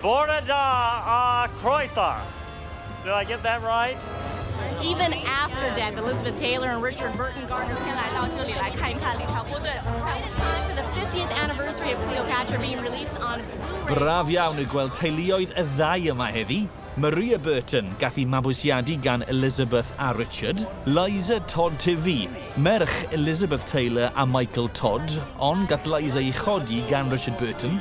Bore da a chroeso! Did I get that right? Even after death, Elizabeth Taylor and Richard Burton Gardner It was time for the 50th anniversary of Cleopatra being released on Blu-ray. Braf iawn yw gweld teuluoedd y ddau yma heddi. Maria Burton gath i mabwysiadu gan Elizabeth a Richard, Liza Todd Tivy, merch Elizabeth Taylor a Michael Todd, ond gath Liza ei chodi gan Richard Burton,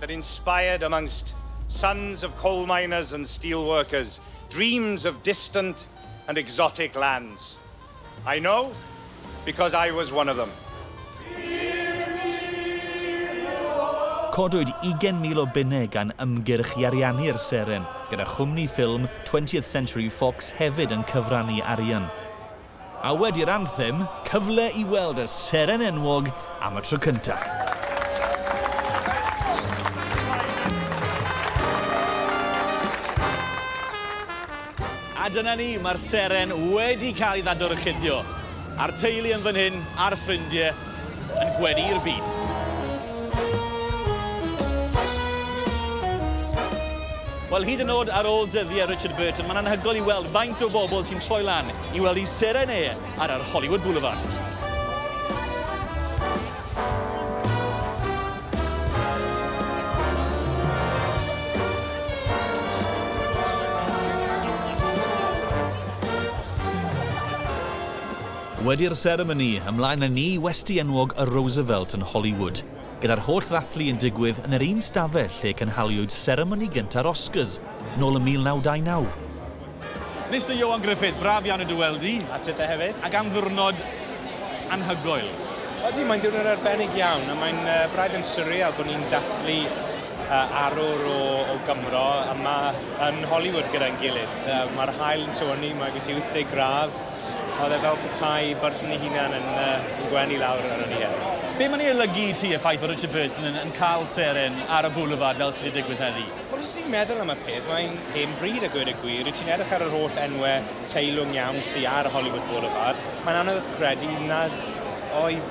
that inspired amongst sons of coal miners and steel workers dreams of distant and exotic lands. I know because I was one of them. Codwyd ugain mil o bunnau gan ymgyrch i ariannu'r seren, gyda chwmni ffilm Twentieth Century Fox hefyd yn cyfrannu arian. A wedi'r anthem, cyfle i weld y seren enwog am y tro cyntaf. A dyna ni, mae'r seren wedi cael ei ddadorchuddio. A'r teulu yn fan hyn, a'r ffrindie, yn gweddu'r byd. Wel, hyd yn oed ar ôl dyddiau Richard Burton, mae'n anhygoel i weld faint o bobl sy'n troi lan i weld i seren e ar yr Hollywood Boulevard. Wedi'r seremoni, ymlaen â ni i westy enwog y Roosevelt yn Hollywood, gyda'r holl ddathlu yn digwydd yn yr un stafell lle cynhaliwyd seremoni gynta'r Oscars, nôl yn 1929. Mister Ioan Gruffydd, braf iawn i dy weld di. A ti te hefyd. Ac am ddiwrnod anhygoel. Odi, mae'n ddiwrnod arbennig iawn, a mae'n uh, braidd yn surreal bod ni'n dathlu uh, arwr o, o Gymro yma yn Hollywood gyda'n gilydd. Uh, Mae'r hael yn tywynnu, mae gen ti 80 gradd, Oedd e fel petai Burton ei hunan yn fy ngwenu lawr arno ni heddi. Be mae'n ei olygu i ti y ffaith fod Richard Burton yn yn cael seren ar y Boulevard fel sydd wedi digwydd heddi? Wel os ti'n meddwl am y peth, mae'n hen bryd a gweud y gwir, rydw ti'n edrych ar yr holl enwe teilwng iawn sy ar Hollywood Boulevard, mae'n anodd credu nad oedd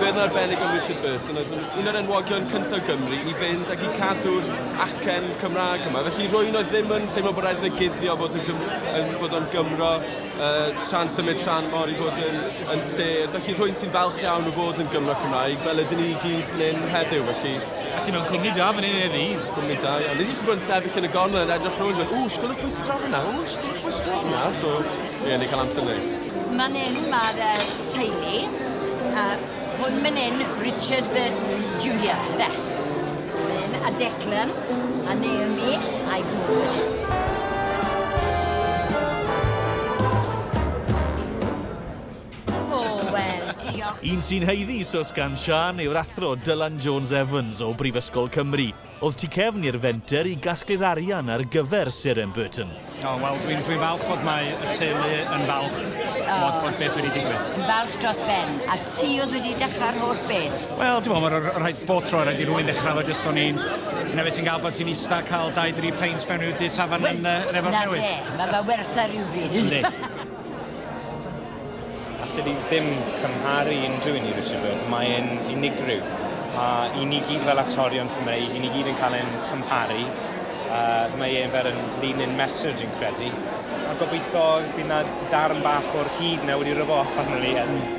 Gwedd arbennig am Richard Burton oedd yn un o'r enwogion cyntaf Gymru i fynd ac i cadw'r acen Cymraeg yma. Felly rwy'n oedd ddim yn teimlo bod rhaid iddo guddio fod, yn, yn, fod o'n Gymro uh, tra'n symud tra'n mor i fod yn, yn ser. Felly rwy'n sy'n falch iawn o fod yn Gymro Cymraeg fel ydyn ni i gyd fan hyn heddiw. Felly... A ti mewn cwmni da fan hyn heddi? Cwmni da, iawn. Nid jyst yn bod yn sefyll yn y gornel yn edrych rhywun yn dweud, ww, sgwylwch bwys draw yna, ww, sgwylwch bwys draw yna. So, ie, yeah, ni'n cael amser neis. Man 'yn mae'r uh, teulu. Uh, hwn man 'yn, Richard Burton Jr. Be? Lynn a Declan a Naomi a'i gwrs. Un sy'n heiddi sos gan Sian yw'r athro Dylan Jones Evans o Brifysgol Cymru. Oedd tu cefn i'r fenter i gasglu'r arian ar gyfer Syr M. Burton. O, wel, dwi'n dwi falch fod mae y teulu yn falch oh. bod, bod beth wedi digwydd. Yn falch dros ben. A ti oedd wedi dechrau'r holl beth? Wel, dwi'n meddwl, mae'r rhaid bod tro, rhaid i rwy'n dechrau fo jyst o'n i'n... Yna fe ti'n gael bod ti'n eista cael 2-3 peint mewn i'w du tafan yn, uh, yn efo'r newydd. Na fe, mae fe werth ar rhywbryd. Allen i ddim cymharu unrhyw un i Richard Burke, mae e'n unigryw, a i ni gyd fel actorion Cymreig, i ni gyd yn cael ein cymharu, yy mae e'n fel yn lean in mesur dwi'n credu, a gobeithio bydd 'na darn bach o'r hud 'na wedi rwbo off arno fi hefyd.